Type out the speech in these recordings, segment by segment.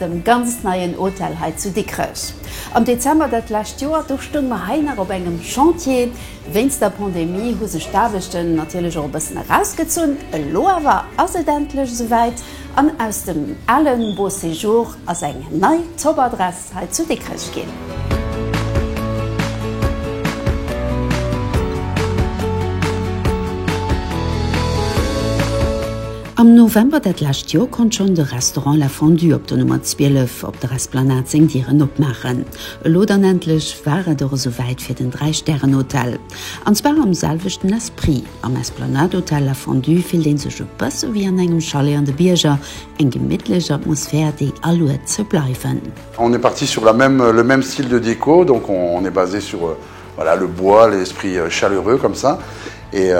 dem ganz neien Hotel hei zu Dikrech am Dezember dat lescht Joer. Do stoung mer hei nach op engem Chantier. Wéinst der Pandemie hu sech d'Aarbechten natierlech och e bëssen erausgezunn. Elo awer ass et endlech esouwäit an aus dem ale Beau Séjour ass eng nei Top Adress hei zu Dikrech ginn. Am November dat lescht Joer konnt schonn de Restaurant La Fondue op der Nummer 12 op der Esplanade seng Dieren opmaachen. Elo dann endlech war et och esou wäit fir den Dräi-Stären-Hotel. An zwar am selwechten Esprit. Am Esplanade-Hotel La Fondue fillt ee sech e bësse wéi an engem Chalet an de Bierger, eng gemittlech Atmosphär, déi aluet ze bleiwen. On est parti sur la même, le même style de déco, donc on est basé sur. Voilà le bois, l'esprit chaleureux comme ça et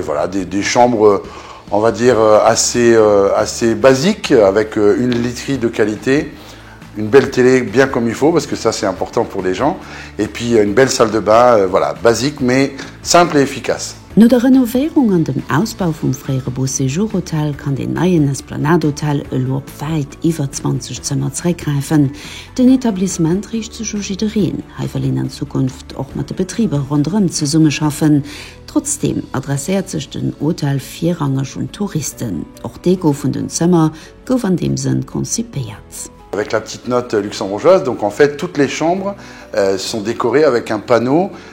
voilà des chambres on va dire assez assez basique avec une literie de qualité, une belle télé bien comme il faut parce que ça c'est important pour les gens et puis une belle salle de bain voilà basique mais simple et efficace. No der Renovéierung an dem Ausbau vum fréiere Beau Séjour Hotel kann den neien Esplanade Hotel elo op wäit iwwer 20 Zëmmer zeréckgräifen. Den Etablissement riicht sech u jiddereen. Hei wëll een an Zukunft och mat de Betriber ronderëm zesummeschaffen. Trotzdeem adresséiert sech den Hotel virrangeg un d'Touristen. Och d'Deko vun den Zëmmer gouf an deem Sënn konzipéiert. Avec la petite note luxembourgeoise, donc en fait toutes les chambres sont décorées avec un panneau.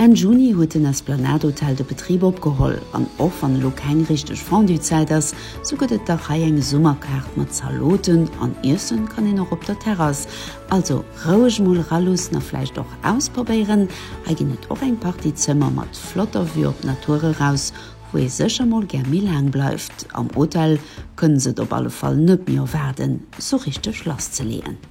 Enn Juni huet den Esplanade Hotel de Betrib opgeholl, an och wann elo keng richteg Fondue-Zäit ass, sou gëtt et dach hei eng Summerkaart mat Zaloten, an iessen kann een och op der Terrass. Also roueg mol ralussen a vläicht och ausprobéieren, hei ginn et och eng Partie Zëmmer mat flotter Vue op d'Natur eraus, wou ee sécher mol gär méi laang bleift. Am Hotel kënne se et op alle Fall net méi erwaarden, sou richteg lasszeleeën.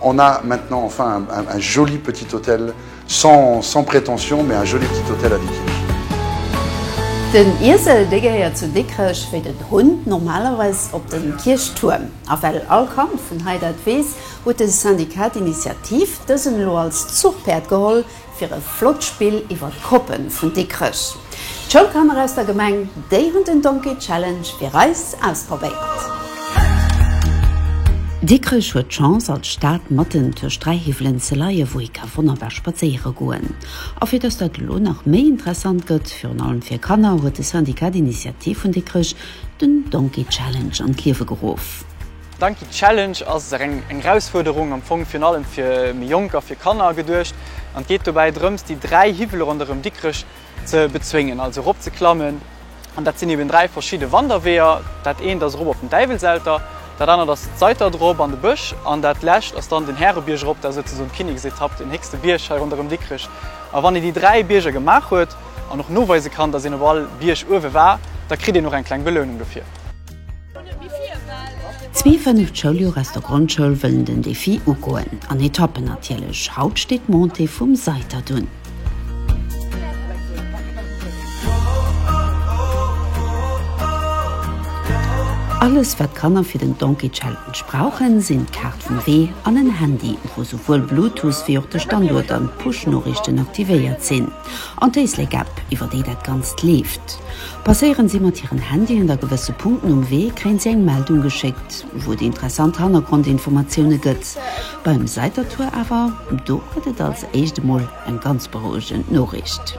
On a maintenant enfin un joli petit hôtel sans sans prétention mais un joli petit hôtel à Dikrech. Den Iesel dee gehéiert zu Dikrech wéi den Hunn normalerweis op de Kierchtuerm. A well all Kand vun hei dat weess, huet de Syndicat d'Initiative dësen elo als Zuchpäerd geholl, Fir e flott Spill iwwer d'Koppen vun Dikrech. D'Schoulkanner aus der Gemeng, déi hunn den Donkey Challenge fir eis ausprobéiert. Dikrech huet d'Chance als Stad matten tëscht 3 Hiwwelen ze leien, wou ee ka wonnerbar spadséiere goen. A fir dass dat elo nach méi interessant gëtt, virun allem fir Kanner, huet de Syndicat d'Initiative vun Dikrech den Donkey Challenge an d'Liewe geruff. D'Anki Challenge ass eng Erausfuerderung am Fong virun allem fir méi Jonk a fir Kanner geduecht an et geet dobäi drëms déi 3 Hiwwele ronderëm Dikrech ze bezwéngen, also erop ze klammen an dat sinn eben 3 verschidde Wanderweeër. Dat eent ass erop op den Däiwelselter, dat anert ass d'Seiter drop an de Bësch an dat lescht ass dann den Härebierg erop, dat ass souzesoen d'Kinneksetapp, den héchste Bierg hei ronderëm Dikrech. A wann een déi 3 Bierger gemaach huet an och noweise kann, datt een op all Bierg uewe war, da kritt een och eng kleng Belounung dofir. Zwee fënneft Schouljoer aus der Grondschoul wëllen den Defi ugoen. An Etappen natierlech. Haut steet d'Montée vum Seitert un. Alles wat d'Kanner fir den Donkey Challenge brauchen, sinn d'Kaart vum Wee an en Handy, wou souwuel Bluetooth wéi och de Standuert an d'Push-Noriichten aktivéiert sinn. An d'Éislek-App, iwwer déi dat Ganzt leeft. Passéieren si mat hiren Handyen da gewësse Punkten um Wee, kréien si eng Meldung geschéckt, wou et interessant Hannergrondinformatioune gëtt. Beim Saitertour awer, do gëtt et als éischt emol eng ganz berouegend Noriicht.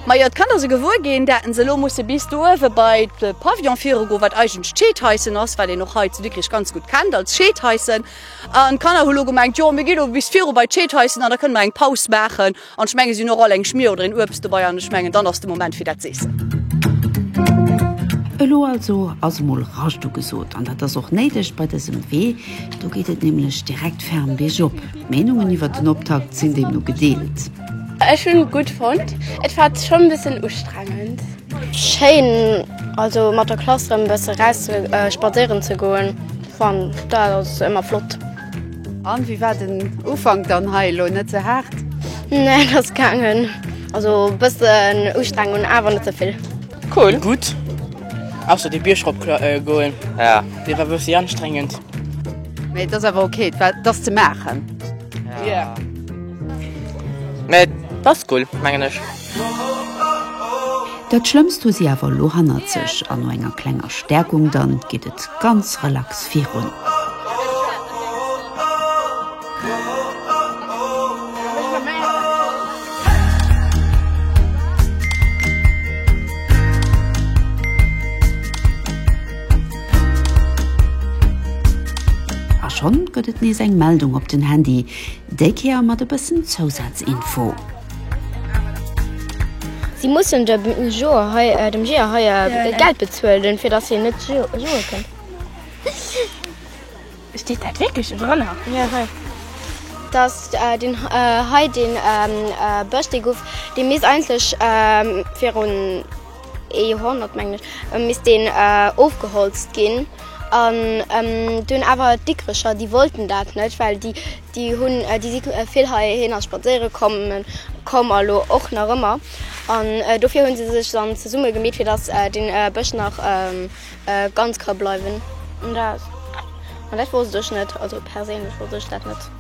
Majo, d'Kanner se gewuer ginn, daten se elo musse bis do uewe bei de Pavillon viru goen, wat eigentlech d'Scheedhaissen ass, wat een och hei zu Dikrich ganz gutt kennt als Scheedhaissen. An d'Kanner hu lo gemengt, jo mir gi lo bis viru bei d'Scheedhaissen an da kënne mer eng Paus maachen. An ech mengen, si hunn och all eng Schmier oder een Uebst dobei an ech mengen, dann ass de Moment fir dat z'eessen. Elo also ass emol Rascht ugesot an dat ass och néideg bei dësem Wee. Do geet et nämlech direkt ferm biergop. D'Meenungen iwwert den Optakt sinn deemno gedeelt. Ech hun et gudd fonnt, et war schon en bessen ustrengend. Schéin, also mat der Klass rem bessen raus spazéieren ze goen, fan dat ass emmer flott. An wéi war den Ufank dann hei elo net ze haart? Nee, dat ass gaangen. Also e bëssen Ustrengung, awer net ze vill. Cool, gutt, ausser dee Bierg rop goen, dee war e bëssi anstrengend. Mee et ass awer ok, et war, et ass ze maachen. Mee et ass cool, mengen ech. Dat Schlëmmst hu si awer elo hannert sech an no enger klenger Stäerkung dann geet et ganz relax virun. A schonn gëtt et nees eng Meldung op den Handy, déi Kéier mat e bëssen Zousaz-Info. Si mussen de Joer hei, äh, dem Jeeër hei äh, Ja, ja. Geld bezuelen, fir dass hien net jo- joe kënnt. Steet dat wierklech drënner? Ja, hei. Dass äh, deen äh, hei, deen ähm, äh, Bësch, dee gouf, dee misst eigentlech ähm, virun ee Joerhonnert, mengen ech, äh, misst deen äh, ofgeholzt ginn. An ähm, dunn awer d'Dikrecher, déi wollten dat net, well déi, Déi hunn, déi si vill heihinner spadséiere komm a lo och nach ëmmer. An dofir hu se sech dann zesumme gemeet, fir dass dee Bësch nach ganz ka bleiwen. An dat, an dat wollt ech net, also perséinlech wollt ech dat net.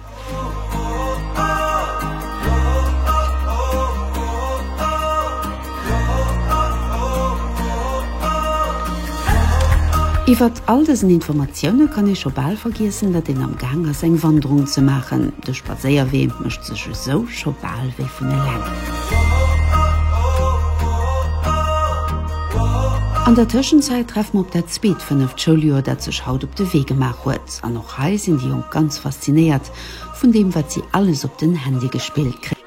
Iwwert all dësen Informatioune kann ee scho bal vergiessen, datt een am Gaang ass eng Wanderung ze maachen. De Spadséierwee mécht sech esou scho bal wéi vun eleng. An der Tëschenzäit treffe mer op dat zweet fënneft Schouljoer, dat sech haut op de Wee gemaach huet. An och hei sinn déi Jonk ganz faszinéiert vun deem, wat si alles op den Handy gespillt.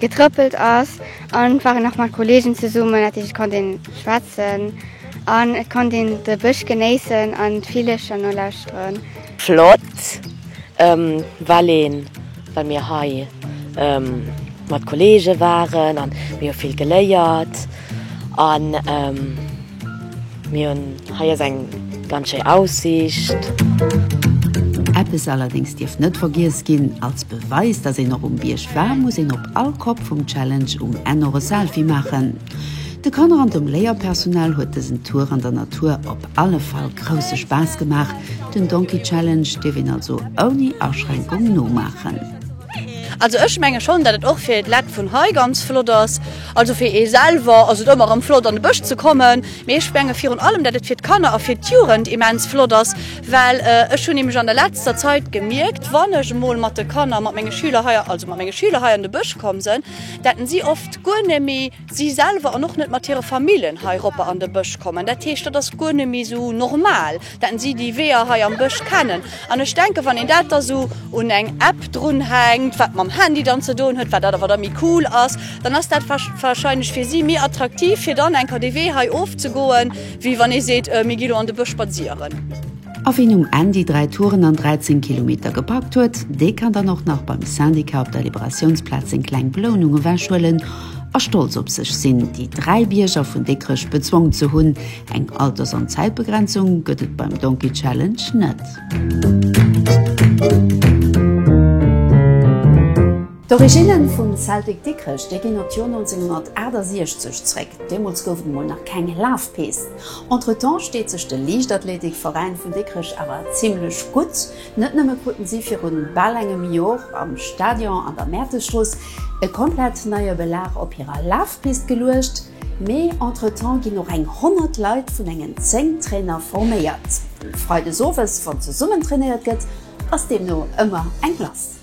Getrëppelt ass an waren nach mat Kollegen zesummen dat heescht et konnt een schwätzen an et konnt een de Bësch genéissen an d'Villecher nolauschteren. Flott well een well mir hei mat Kollegen waren an mir hu vill geléiert an. Mir hun hei ass eng ganz schéi Aussicht. Eppes allerdéngs dierf net vergiess ginn, Als Beweis dass een och um Bierg war, muss een op all Kopp vum Challenge um Enn och e Selfie maachen. De Kanner an dem Léierpersonal huet dësen Tour an der Natur op alle Fall grousse Spaass gemaach. Den Donkey Challenge dierf een also ouni Aschränkung nomaachen. Also ech menge schonn dat et och fir d'Lett vun hei ganz flott ass. Also fir ee selwer ass et ëmmer erëm flott an de Bësch ze kommen, mee ech menge virun allem dat et fir d'Kanner a fir d'Jugend immens flott ass, well ech hunn nämlech an der letzter Zait gemierkt wann ech emol mat de Kanner, mat menge Schüler hei, also mat menge Schüler hei an de Bësch komm sënn, dat en si oft guer net méi. si selwer an och net mat hire Famillen hei eropper an de Bësch kommen. Dat heescht, dat ass guer net méi esou normal, datt si déi Weeër hei am Bësch kennen. An ech denken, wann een dat da sou un eng App drunhänkt, wat mam Handy dann ze doen huet, wat dat awer da méi cool ass, dann ass dat wahrscheinlech fir si méi attraktiv, fir dann enker dee Wee hei ofzegoen, wéi wann ee seet, Mir gi lo an de Bësch spazieren. A wien um Enn déi 3 Touren an 13 Kilometer gepackt huet, dee kann dann och nach beim Syndicat op der Liberatiounsplaz seng kleng Belounung ewech huelen a stolz op sech sinn, déi 3 Bierger vun Dikrech bezwongen ze hunn. Eng Alters an Zäitbegrenzung gëtt et beim Donkey Challenge net. D'Originne vum Celtic Dikrech, déi ginn op d'Joer 1968 zréck. Deemools gouf et emol nach keng Lafpist. Entretemps steet sech de Liichtathletik Veräin vun Dikrech awer zimlech gutt. Net nëmme kruten si virun bal engem Jor am Stadion an der Mäertesstrooss e komplett neie Belag op hirer Lafpist geluecht, mee entretemps ginn och eng 100 Leit vun engen 10 Trainer forméiert. Freides owes wann zesummen trainéiert gëtt ass deemno ëmmer eng Glace.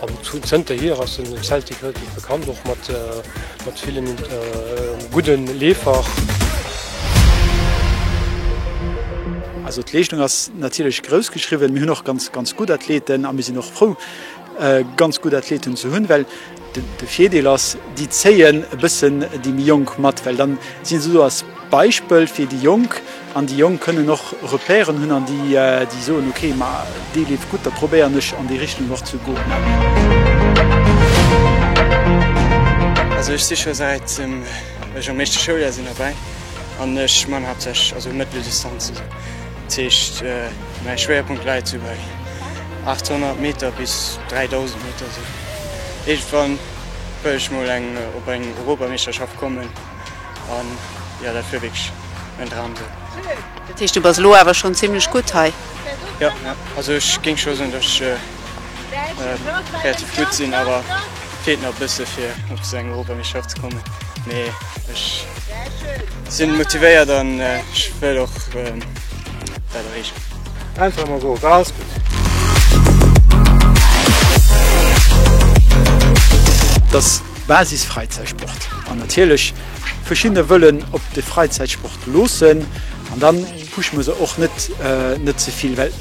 An zënterhier ass den Celtic relativ bekannt, och mat villen gudden Leefer. Also d'Leeschtung ass natierlech grouss geschriwwen. Mir hunn och ganz ganz gutt Athleten a mir sinn och frou ganz gutt Athleten ze hunn, well de Virdeel ass, déi zéien e bëssen déi méi Jonk mat, well dann si se do als Beispill fir déi Jonk. An déi Jonk kënnen och Repèren hunn an déi soen, ok, ma dee leeft gutt, da probéieren ech an déi Richtung och ze goen. Also ech si scho säit ech am éischte Schouljahr sinn derbäi an ech man haaptsächlech also Mëtteldistanz. Also dat heescht mäi Schwéierpunkt läit sou bei 800 Meter bis 3000 Meter. Iergendwann wëll ech mol eng op eng Europameeschterschaft kommen. an jo dat wier wierklech mäin Dram sou. Dat heescht du bass elo awer schonn zimlech gutt hei? Jo, jo, also ech géing scho soen, datt ech relativ gutt sinn, awer feelt nach e bësse fir op esou eng Europameeschterschaft ze kommen, mee ech sinn motivéiert an ech wëll och dat erreechen. Einfach emol goen, war alles gutt. Dass Basisfräizäitsport an natierlech verschiddene wëllen op de Fräizäitsport loossen an dann pushe mer se och net net ze vill, well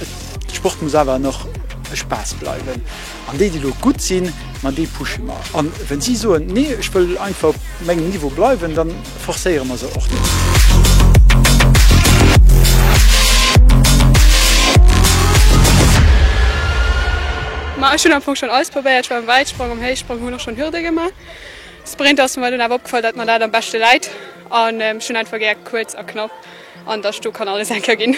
de Sport muss awer nach e Spaass bleiwen an déi déi elo gutt sinn, ma déi pushe mer an wann si soen, nee ech wëll einfach op mengem Niveau bleiwen, dann. Forcéiere mer se och net. Ma ech hunn am Fong schonn alles probéiert, ech war am Wäitsprong, am Héichsprong, hunn och schonn Hürde gemaach. Sprint ass mer dunn awer opgefall, datt mer dat am beschte läit an ech hunn einfach gär kuerz a knapp an datt sto kann alles eng Kéier ginn.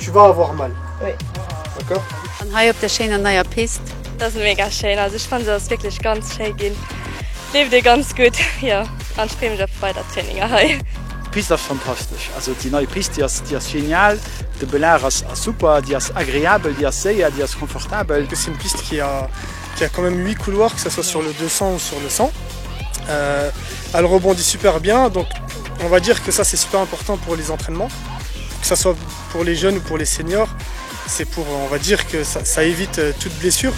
Je war awer och mell. Oui. D'accord. An hei op der schéiner neier Pist. Dat ass mega schéin, also ech fannen se ass wierklech ganz schéi ginn, leeft ee ganz gutt jo an ech free mech op weider Traininger hei. D'Pist ass fantastesch, also déi nei Pist, déi ass déi ass genial, de Bel'Air ass ass super, déi ass agreabel, déi ass séier, déi ass confortabel. C'est une piste qui a qui a quand même 8 couloirs, que ça soit sur le 200 ou sur le 100, elle rebondit super bien, donc on va dire que ça c'est super important pour les entraînements. que ça soit pour les jeunes ou pour les seniors, c'est pour on va dire que ça, ça évite euh, toute blessure.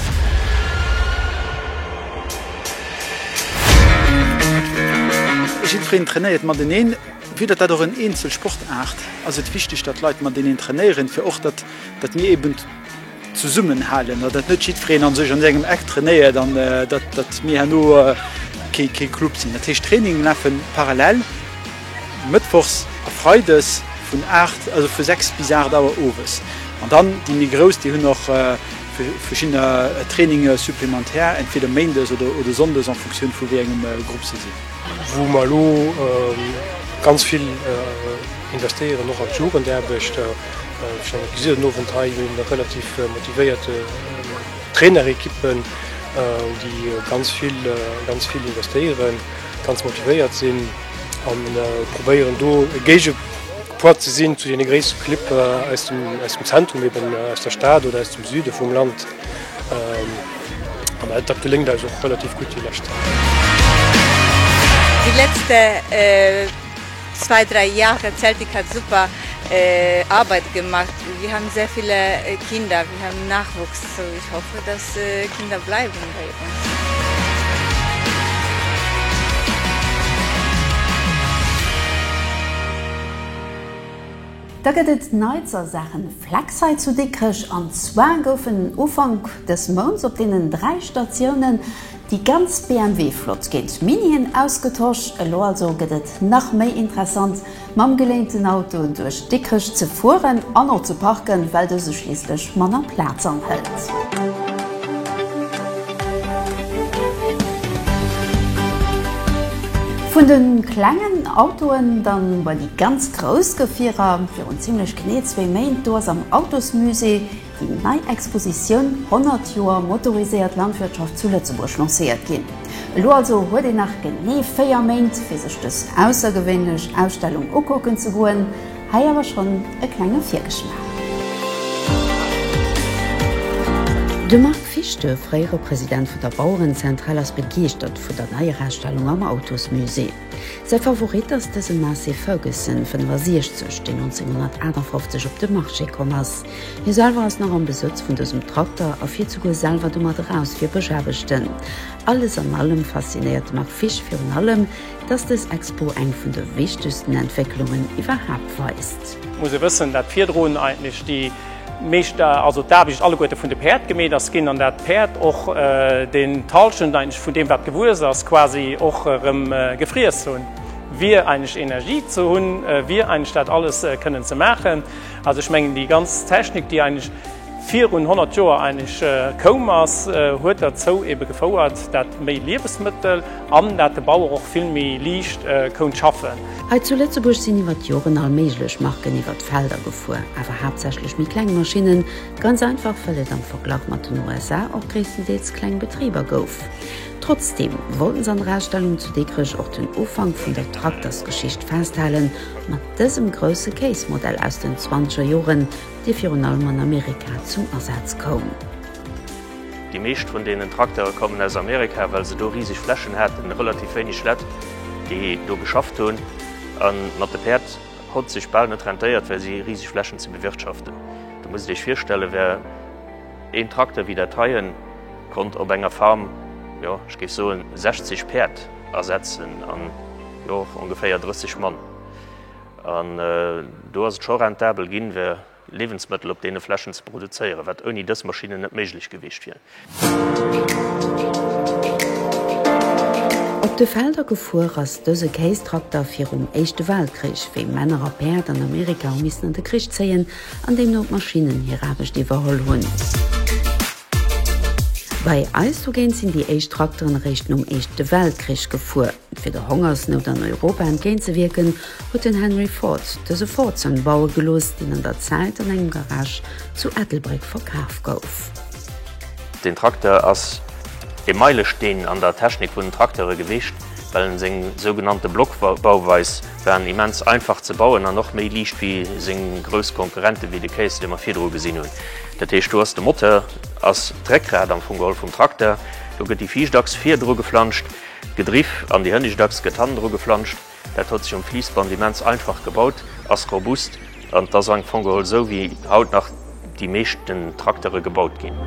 Jiddwereen trainéiert mateneen, wéi dat dat och en eenzel Sportaart, ass et wichteg, datt Leit mateneen trainéieren, fir och datt mir eben zesummen halen an dat net jiddwereen an sech an sengem Eck trainéiert an dat dat mir herno kee kee Club sinn. Dat heescht Trainingen lafen parallel mëttwochs a freides vun 8 also vu 6 bis 8 Auer owes an dann déi méi grouss déi hunn och verschiddener Traininge supplémentaires entweder méindes oder oder sonndes en Fonctioun vu wéi engem Grupp se sinn. Wou mer elo ganz vill. Investéieren och an d'Jugendaarbechter. Ech menge gesi den Owend hei jo eng relativ motivéiert Trainerequipe, déi ganz vill ganz vill investéieren, ganz motivéiert sinn a probéieren do e Géigepoids ze sinn zu deene gréisste Clibb aus dem aus dem Zentrum, eben aus der Stad oder aus dem Süde vum Land. An dat geléngt eis och relativ gutt déi lescht. Zwei, drei Jahre Celtic hat super Arbeit gemacht. Wir haben sehr viele Kinder, wir haben Nachwuchs. Ich hoffe, dass Kinder bleiben bei uns. Da gëtt et Neits a Saache Flex hei zu Dikrech. An zwar goufen Ufank dës Mounts op deenen dräi Statiounen Déi ganz BMW Flott géint Minien ausgetosch. Elo also gëtt et nach méi interessant mam geléinten Auto duerch Dikrech ze fueren an och ze parken, well dëse schliisslech manner Plaz anhëlt. Vun de klengen Autoen dann bei déi ganz grouss Gefierer. Virun zimmlech genee zwee Méint do ass am Autosmusée, Déi nei Expositioun 100 Joer motoriséiert Landwirtschaft zu Lëtzebuerg lancéiert ginn. Elo also huet een nach genee 4 Méint fir sech dës aussergewéinlech Ausstellung ukucken ze goen. Hei awer schonn e klenge Virgeschmaach. De Marc Fischte, fréiere President vun der Bauerenzentral ass begeeschtert vun der neier Ausstellung am Autosmusée. Säi Favorit ass dëse Massey Ferguson 65, deen 1958 op de Marché komm ass. Hie selwer ass nach am Besëtz vun dësem Trakter a fiert souguer selwer domat eraus fir Bëschaarbechten. Alles an allem faszinéiert de Marc Fisch virun allem, dass dës Expo eng vun de wichtegsten Entwécklungen iwwerhaapt weist. Muss ee wëssen, dat virdrun eigentlech déi. Meescht also d'Aarbecht alleguerte vun de Päerd gemeet ass ginn, an dat d'Päerd och den Talschent eigentlech vun deem wat gewuess ass quasi och erëm gefriess hunn, wier eigentlech Energie ze hunn, wier eigentlech dat alles kënnen ze maachen. Also ech mengen déi ganz Technik, déi eigentlech virun 100 Joer eigentlech koum ass, huet derzou ebe gefouert, dat méi Liewesmëttel, An dat de Bauer och vill méi liicht kount schaffen. Hei zu Lëtzebuerg sinn iwwer d'Joren all méiglech Marken iwwer d'Felder gefuer, awer haaptsächlech méi kleng Maschinnen, ganz einfach well et am Verglach mat den USA och gréisstendeels kleng Betriber gouf. Trotzdeem wollten se an der Ausstellung zu Dikrech och den Ufank vun der Traktersgeschicht festhalen mat dësem grousse Kéismodell aus den zwanzeger Joren, dee virun allem an Amerika zum Asaz koum. Déi meescht vun deenen Traktere kommen aus Amerika, well se do riseg Flächen haten, relativ wéineg Lett, déi do geschafft hunn a mat de Päerd hott sech bal net rentéiert fir si riseg Flächen ze bewirtschaften. Der musst Iech virstellen, wär een Trakter wéi dat heien, konnt op enger Farm, jo, ech géif soen 60 Päerd ersetzen an jo och ongeféier 30 Mann. An do ass et scho rentabel ginn, wär. Liewensmëttel op deene Flächen ze produzéieren, wat ouni dës Maschinnen net méiglech gewiescht wier. Op de Felder gefuer ass dëse Kéistrakter virum Éischte Weltkrich, wéi Männer a Päerd an Amerika hu missen an de Krich zéien an deemno d'Maschinnen hir Aarbecht iwwerholl hunn. Bei eis dogéint sinn déi éischt Trakteren eréischt nom Éischte Weltkrich gefuer. Fir der Hongersnout an Europa entgéint ze wierken, huet den Henry Ford dëse Ford Sun baue gelooss, deen an der Zäit an engem Garage zu Ettelbréck verkaf gouf. Den Trakter ass ee Meilesteen an der Technik vun den Trakteure gewiescht, well en seng sougenannte Blockbauweis war en immens einfach ze bauen an och méi liicht wéi seng grouss Konkurrenten, wéi de Case, dee mer virdru gesinn hunn. Dat heescht, do ass de Moteur, ass d'Réckrad am Fong geholl vum Trakter, do gëtt déi Viischtachs virdru geflanscht, Gedriff an déi hënnescht Achs gëtt hannen dru geflanscht. Dat huet sech um Fliissband immens einfach gebaut, ass robust an et ass am Fong geholl esou wéi haut nach déi meeschten Traktere gebaut ginn.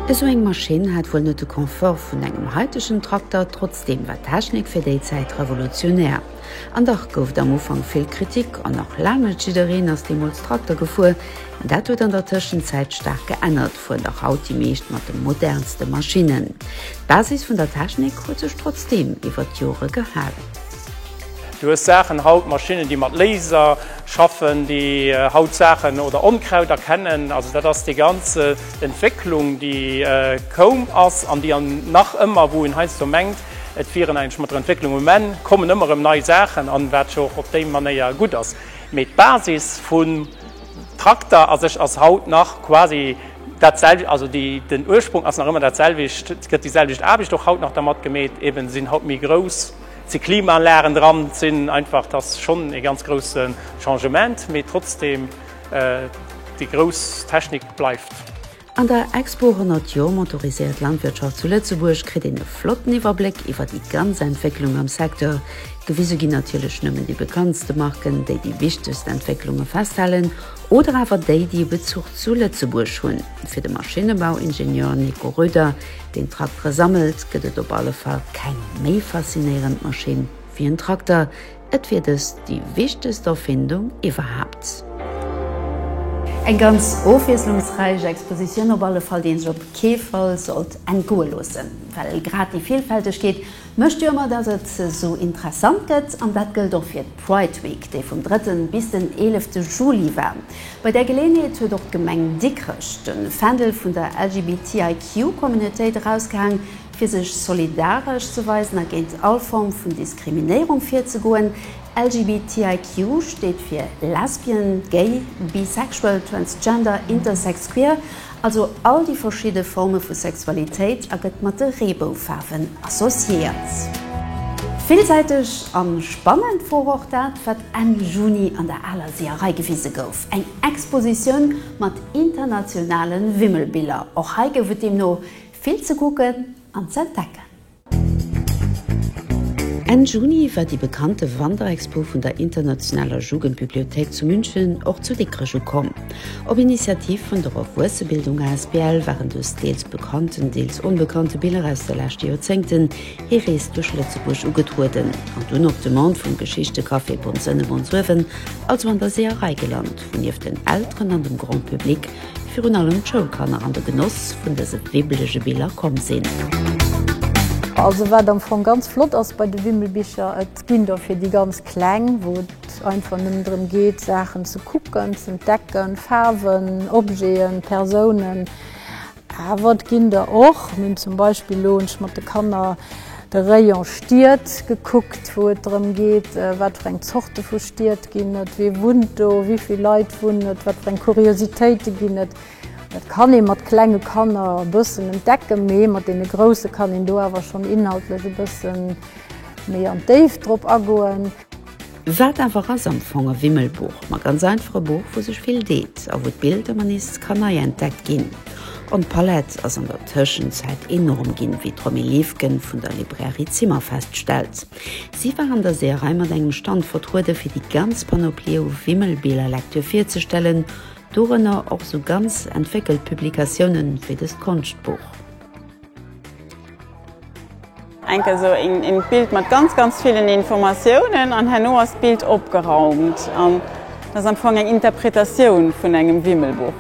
Esou eng Maschinn hat wuel net de Confort vun engem haitegen Trakter, trotzdeem war d'Technik fir déi Zäit revolutionär. An dach gouf et am Ufank vill Kritik an nach laang net jiddereen ass deemools Trakter gefuer. Dat huet an der Tëschenzäit staark geännert. fuert och haut déi meescht mat de modernste Maschinnen. D'Basis vun der Technik huet sech trotzdeem iwwer d'Jore gehalen. Du hues Saachen haut, Maschinnen, déi mat Laser schaffen, déi haut Saachen oder Onkraut erkennen. Also dat ass déi ganz Entwécklung, déi koum ass an déi nach ëmmer, wou een heiansdo mengt, et wieren eigentlech mat der Entwécklung um Enn, kommen ëmmer erëm nei Saachen an, wat jo och op déi Manéier gutt ass. Mee d'Basis vu Trakter a sech ass haut nach quasi dat selwecht, also den Ursprung ass nach ëmmer dat selwecht, et gëtt déi selwecht Aarbecht och haut nach dermat gemeet, eben sinn haut méi grouss, et si Klimaanlagen dran, et sinn einfach, et ass schonn ee ganz grousse Changement, mee trotzdem déi grouss Technik bleift. An der Expo 100 Jor motoriséiert Landwirtschaft zu Lëtzebuerg kritt een e flotten Iwwerbléck iwwer déi ganz Entwécklung am Secteur. Gewise ginn natierlech nëmmen déi bekanntste Marken, déi déi wichtegst Entwécklunge festhalen oder awer déi, déi e Bezuch zu Lëtzebuerg hunn. Fir de Maschinnebauingenieur Nico Roeder, deen Traktere sammelt, gëtt et op alle Fall keng méi faszinéierend Maschinn wéi en Trakter, Et wier dëst déi wichtegst Erfindung iwwerhaapt. Eng ganz ofwiesslungsräich Expositioun op alle Fall, déi een sech op kee Fall sollt entgoe loossen. Well grad déi Villfältegkeet mécht jo ëmmer, datt et esou interessant gëtt. An dat gëllt och fir d'Pride Week, déi vum drëtten bis den eelefte Juli war. Bei där Geleeënheet huet och d'Gemeng Dikrech de Fändel vun der LGBTIQ-Communautéit erausgehaang. Fir sech solidaresch ze weisen a géint all Form vun Diskriminéierung virzegoen, LGBTIQ steet fir Lesbien, Gay, Bisexual, Transgender, Intersex, Queer, also all déi verschidde Forme vu Sexualitéit a gëtt mat de Reeboufaarwen associéiert. Villsäiteg a spannend wor och dat, wat Enn Juni an der Aler Seeërei gewise gouf, eng Expositioun mat internationale Wimmelbiller. Och hei gouf et deemno Vill ze kucken an ze entdecken! Enn Juni war déi bekannte Wanderexpo vun der Internationaler Jugendbibliothéik zu München och zu Dikrech ukomm. Op Initiativ vun der Erwuessebildung asbl waren dës deels bekannten, deels onbekannte Biller aus de leschte Joerzéngten hir Rees duerch Lëtzebuerg ugetrueden an dunn op Demande vum Geschichtecafé Bondsënne-Bonsuewen also an der Seeërei gelant. nieft den Elteren an dem Grand Public virun allem d'Schoulkanner an de Genoss vun dëse wibblege Biller komm sinn. Also wat am Fong ganz flott ass bei de Wimmelbicher, et ginn der fir déi ganz Kleng, wou et einfach nëmmen drëm geet Saachen ze kucken, z'entdecken, Faarwen, Objeten, Persounen. Awer et ginn der och. Mir hunn zum Beispill elo, hunn ech mat de Kanner de Rayon Stied gekuckt, wou et drëm geet, wat fir eng Zorte vu Stied ginn et, wee wunnt do, wéi vill Leit wunnen et, wat fir eng Kuriositéite ginn et. Dat kann ee mat klenge Kanner e bëssen entdecken, mee mat deene Grousse kann een do awer schonn inhaltlech e bësse méi an d'Déift drop agoen. Wat awer ass am Fong e Wimmelbuch? Ma ganz einfach e Buch, wou sech vill deet a wou d'Bild ëmmer nees kann nei entdeckt ginn. An d'Palett ass an der Tëschenzäit enorm ginn, wéi d'Romy Liefgen vun der Librairie Zimmer feststellt. Si war an der Seeërei mat engem Stand vertrueden, fir déi ganz Panoplie u Wimmelbiller-Lektür virzestellen, dorënner och esou ganz entwéckelt Publikatiounen wéi dëst Konschtbuch. Enk eso een Bild mat ganz ganz villen Informatiounen an herno ass d'Bild opgeraumt an dat ass am Fong eng Interpretatioun vun engem Wimmelbuch.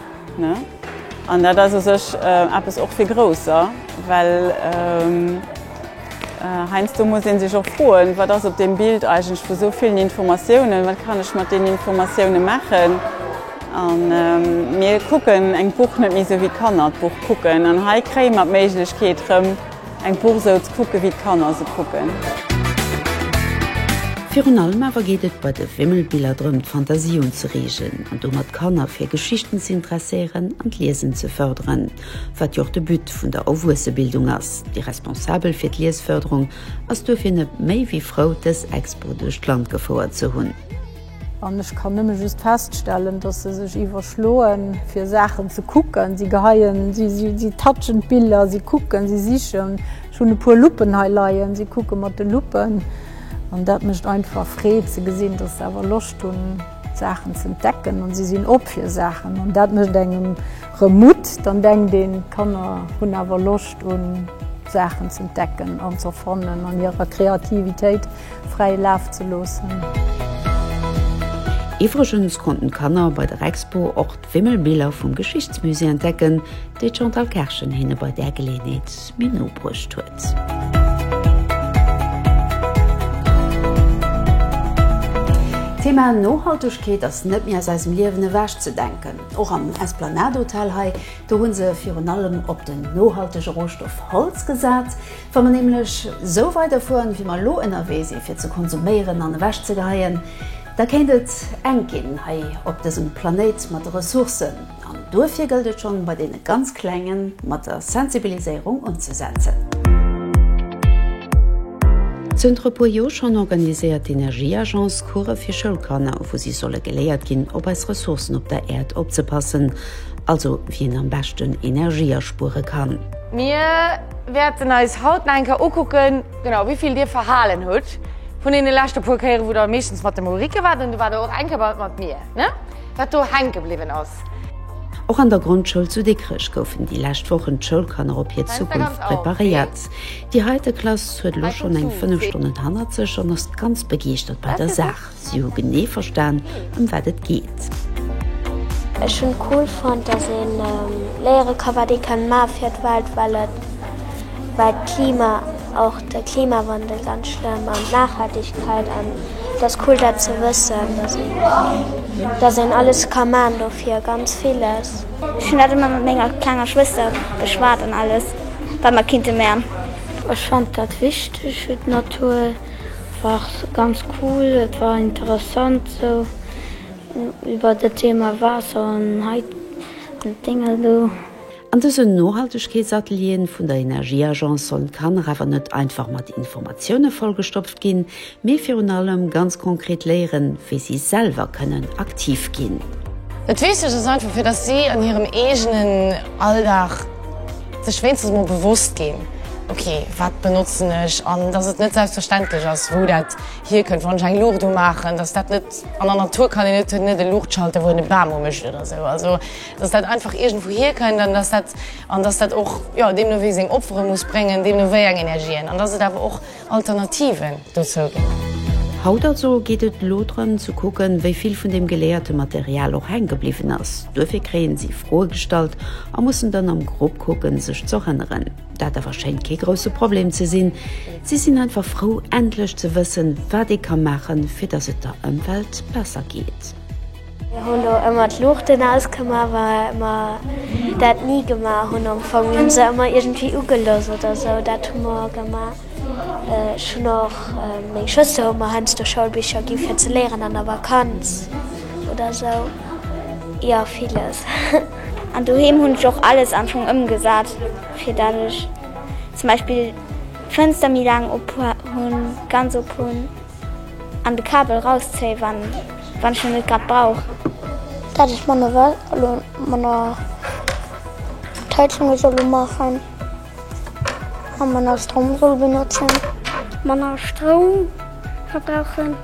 An dat ass u sech eppes och fir Grousser, well heiansdo muss ee sech och froen, wat ass op deem Bild eigentlech vu sou villen Informatiounen, wat kann ech mat deenen Informatioune maachen? A mir kucken eng Buch net méi sou wéi d'Kanner d'Buch kucken. An hei kréie mer d'Méiglechkeet rëm eng Buch sou ze kucke wéi d'Kanner se kucken. Virun allem awer geet et bei de Wimmelbiller drëm d'Fantasie unzereegen an domat d'Kanner fir Geschichten ze interesséieren an d'Liesen ze fërderen, wat jo och de But vun der Erwuessebildung ass. Déi Responsabel fir d'Liesfërderung ass duerfir net méi wéi frou dës Expo duerch d'Land gefouert ze hunn. An ech kann nëmme just feststellen, dass se sech iwwerschloen, fir Saachen ze kucken. Si geheien, si touchen d'Biller, si kucken, si sichen. Ech hunn e puer Luppen hei leien, si kucke mat de Luppen. An dat mécht einfach Freed ze gesinn, dass se awer Loscht hunn, d'Saachen ze entdecken. An si sinn op fir Saachen. An dat mécht engem erëm Mutt. Dann denkt een, d'Kanner hunn awer Loscht un Saachen ze entdecken an ze erfannen an hirer Kreativitéit. fräi Laf ze loossen. Iwwregens konnten d'Kanner bei der Expo och d'Wimmelbiller vum Geschichtsmusée entdecken, déi d'Chantal Kerschen hinne bei där Geleeënheet méi no bruecht huet. D'Thema Nohaltegkeet ass net méi aus eisem Liewen ewech ze denken. Och am Esplanade-Hotel hei, do hu se virun allem op den nohaltege Rohstoff Holz gesat. Wa mer nämlech esou weiderfueren, wéi mer elo ënnerwee si fir ze konsuméieren an ewechzegeheien, da kéint et enk ginn hei op dësem Planéit mat de Ressourcen. An duerfir gëllt et schonn, bei deene ganz Klenge mat der Sensibiliséierung unzesetzen. Zënter e puer Joer schonn organiséiert d'Energieagence Course fir Schoulkanner, wou si solle geléiert ginn, op eis Ressourcen op der Äerd opzepassen, also wéi een am beschten Energie aspuere kann. Mir Wäerten eis haut nach eng Kéier ukucken, genau wéi vill dir verhalen hutt vun deene leschte puer Kéieren, wou der meeschtens mat dem Ulrike waart. An do waart der och eng Kéier bei mat mir, ne? Wat do hänke bliwwen ass. Och an der Grondschoul zu Dikrech goufen déi lescht Wochen d'Schoulkanner op hir Zukunft preparéiert. Déi heite Klass huet elo schonn eng fënnef Stonnen hannert sech an ass ganz begeeschtert bei der Saach. Si hu genee verstan, ëm wat et geet. Ech hunn cool fonnt, dass een léiere ka wat ee kann maache fir d'Welt, well et well d'Klima, och de Klimawandel ganz schlëmm an d'Nachhaltegkeit an et ass cool dat ze wëssen, dass een dass een alles ka maachen dofir, ganz villes. Ech hunn dat ëmmer mat menger klenger Schwëster beschwat an alles wat mer kinnte maachen. Ech fannt dat wichteg fir d'Natur. War ganz cool, et war interessant sou iwwert dat Thema Waasser an hei d'Dinger do. An dësen Nohaltegkeetsatelieren vun der Energieagence kann nach awer net einfach mat Informatioune vollgestopft ginn, mee virun allem ganz konkret léieren, wéi si selwer kënnen aktiv ginn. Dat Wichtegst ass einfach, fir datt si an hirem eegenen Alldag. Sech wéinstens mol bewosst ginn, Ok, wat benotzen ech? An dass et net selbstverständlech ass, wou dat hierkënnt. Wann ech eng Luucht umaachen, dass dat net an der Natur kann een net hunn, net e Luuchtschalter, wou een e Bam umécht oder esou. Also dass dat einfach iergendwou hierkënnt an dass dat an dass dat och, jo, deemno wéi seng Opfere muss bréngen, deemno wéi eng Energien an dass et awer och, Alternativen dozou ginn. Haut also geet et elo drëm ze kucken, wéi vill vun deem geléierte Material och hänke bliwwen ass. Duerfir kréien si Froe gestallt a mussen dann am Grupp kucken, sech ze erënneren. Dat awer schéint kee grousse Problem ze sinn. Si sinn einfach frou, endlech ze wëssen, wat ee ka maachen, fir datt et der Ëmwelt besser geet. Mir hu lo ëmmer d'Luuchten ausgemaach, well mer dat ni gemaach hunn. Am Fong hu mer se ëmmer iergendwéi ugelooss oder esou, dat hu mer gemaach. Ech hunn och, meng Schwëster huet mer heiansdo Schoulbicher gi fir ze léieren an der Vakanz oder esou. Jo, villes. An doheem hunn ech och alles am Fong ëmgesat, fir dat ech zum Beispill d'Fënster méi laang op hunn, ganz op hunn. An de Kabel rauszéien wann ech en net grad brauch. Dat ech manner well elo manner D'Heizunge soll umaachen a manner Stroum soll benotzen. Manner Stroum verbrauchen.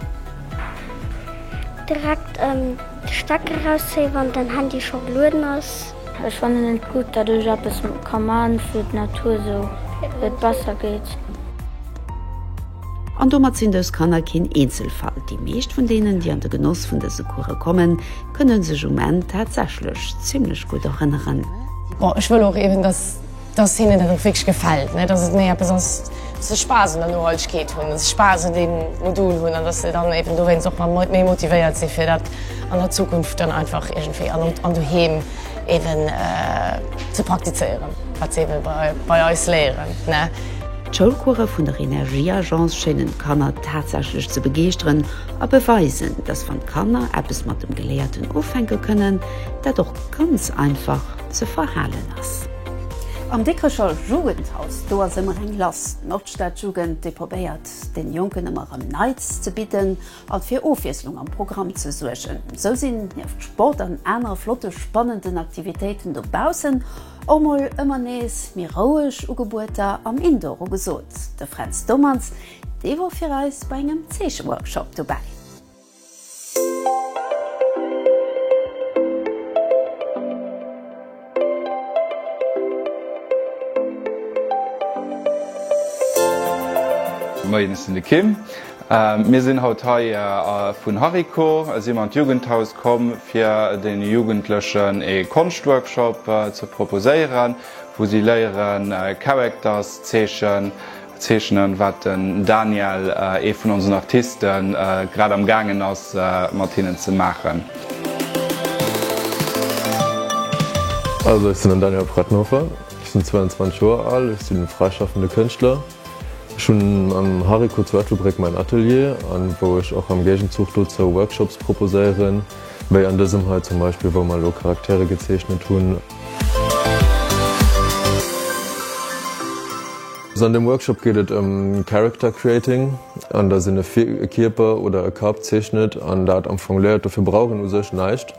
Direkt de Stecker rauszéien wann den Handy scho gelueden ass. Ech fannen et gutt dat ech eppes ka man fir d'Natur sou et besser geet. An domat sinn dës Kanner keen Eenzelfall. Déi meescht vun deenen, déi an de Genoss vun dëse Course kommen, kënne sech um Enn tatsächlech zimlech gutt erënneren. Bon, ech wëll och eben, dass dass hinnen dat och wierklech gefält, ne, dass et méi eppes ass, dass se Spaass un der Nohaltegkeet hunn, dass se Spaass un deem Modul hunn an dass se dann eben dowéinst och nach méi motivéiert si fir dat an der Zukunft dann einfach iergendwéi an doheem eben ze praktizéieren, wat se eben bei eis léieren, ne. D'Schoulcourse vun der Energieagence schéinen d'Kanner tatsächlech ze begeeschteren a beweisen, dass wann d'Kanner eppes mat dem Geléierten ufänke kënnen, dat och ganz einfach. ze verhalen ass. Am Dikrecher Jugendhaus, do ass ëmmer eng lass. D'Nordstadjugend, déi probéiert den Jonken ëmmer erëm Neits ze bidden an fir Ofwiesslung am Programm ze suergen. Sou sinn nieft Sport an anere flotte spannenden Aktivitéiten dobaussen och mol ëmmer nees méi roueg Ugebueter am Indoor ugesot. De Fränz Dommertz, dee wor fir eis bei engem Zeecheworkshop dobäi. Moien, ech sinn de Kim. Mir sinn haut hei vun Hariko, si mer an d'Jugendhaus komm fir den Jugendlechen ee Konschtworkshop ze proposéieren, wou si léieren Characters zeechen. Zeechnen, wat den Daniel, ee vun onsen Artisten, grad am gaangen ass mat hinnen ze maachen. Also ech sinn den Daniel Prettenhofer, ech sinn 22 Joer al, ech sinn fräischaffende Kënschtler. Ech hunn am Hariko zu Ettelbréck mäin Atelier an wou ech och am Géigenzuch dozou Workshops proposéieren, wéi an dësem hei zum Beispill, wou mer elo Charaktere gezeechnet hunn. An dem Workshop geet et ëm Character Creating, an dass een e Kierper oder e Kapp zeechnet an dat am Fong léiert. Dofir brauch een u sech näischt,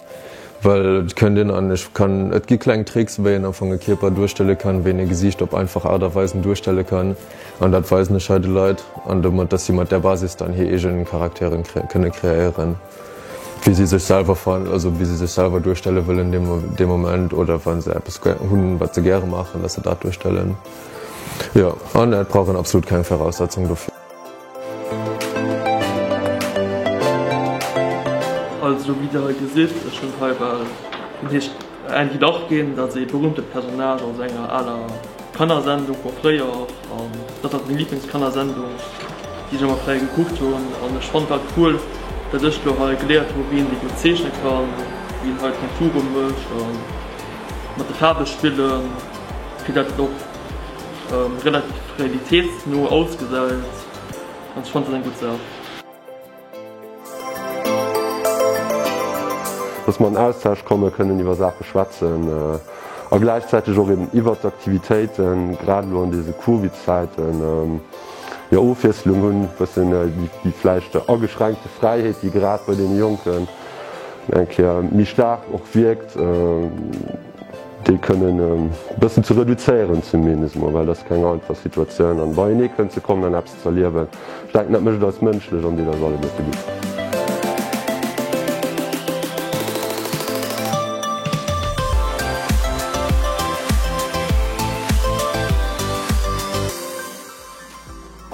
well et kënnt een an ech kann, et gi kleng Tricks, wéi een am Fong e Kierper duerstelle kann, wéi een e Gesiicht op einfach Aart a Weisen duerstelle kann. An dat weisen ech hei de Leit, an domat, dass si mat där Basis dann hir eege Charakteren kënne kreéieren. wéi si sech selwer fannen, also wéi se sech selwer duerstelle wëllen dee Moment oder wa se eppes hunn, wat se gäre maachen, datt se dat duerstellen. Jo, an et brauch een absolut keng Viraussetzung dofir. Also wéi Dir hei gesitt, ech hunn hei bal, dat heescht, Eng hitt och ginn, dat ee berühmte Personnage aus enger aler Kannersendung vun fréier an dat ass meng Lieblingskannersendung déi ech emmer fréier gekuckt hunn an ech fannt dat cool dat ech lo hei geléiert hu wéi een déi gutt zeechne kann, wéi een hei Konture mécht a mat de Faarwe spillen fir dat et och relativ realitéitsno ausgesäit an ech fannt dat eng gutt Saach. Dass mer an Austausch kommen, kënnen iwwer Saache schwätzen a gläichzäiteg och eben iwwert d'Aktivitéiten, grad elo an dese Covid-Zäiten, jo Ofwiesslung hunn, e bëssen déi vläicht ageschränkte Fräiheet, déi grad bei deene Jonken eng Kéier méi staark och wierkt, déi kënnen e bëssen ze reduzéieren zumindest emol, well et ass keng einfach Situatioun an beienee kënnen ze kommen an eppes. Ze erliewen. Ech denken, dat mécht eis mënschlech an deet eis alleguer ze gudden.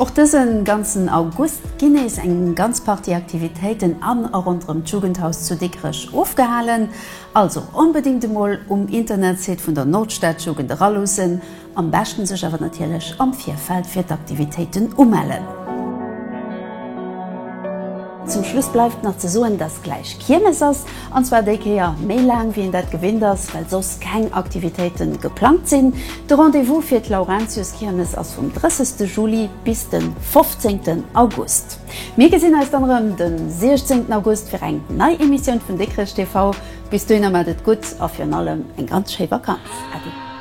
Och dësen ganzen August ginn nees eng ganz Partie Aktivitéiten an a ronderëm d'Jugendhaus zu Dikrech ofgehalen. Also onbedingt emol um Internetsite vun der Nordstadjugend eraluussen. Am beschten sech awer natierlech am Virfeld fir d'Aktivitéiten umellen. Zum Schluss bleift nach ze soen, dass gläich Kiermes ass, an zwar déi Kéier méi laang wéi een dat gewinnt ass, well soss keng Aktivitéiten geplangt sinn. De Rendez-vous fir d'Laurentiuskiermes ass vum 30 de Juli bis den 15 den August. Mir gesinn eis dann erëm den 16 August fir eng nei Emissioun vun Dikrech TV. Bis dohinner, mat et gutt a virun allem eng ganz schéi Vakanz. Äddi.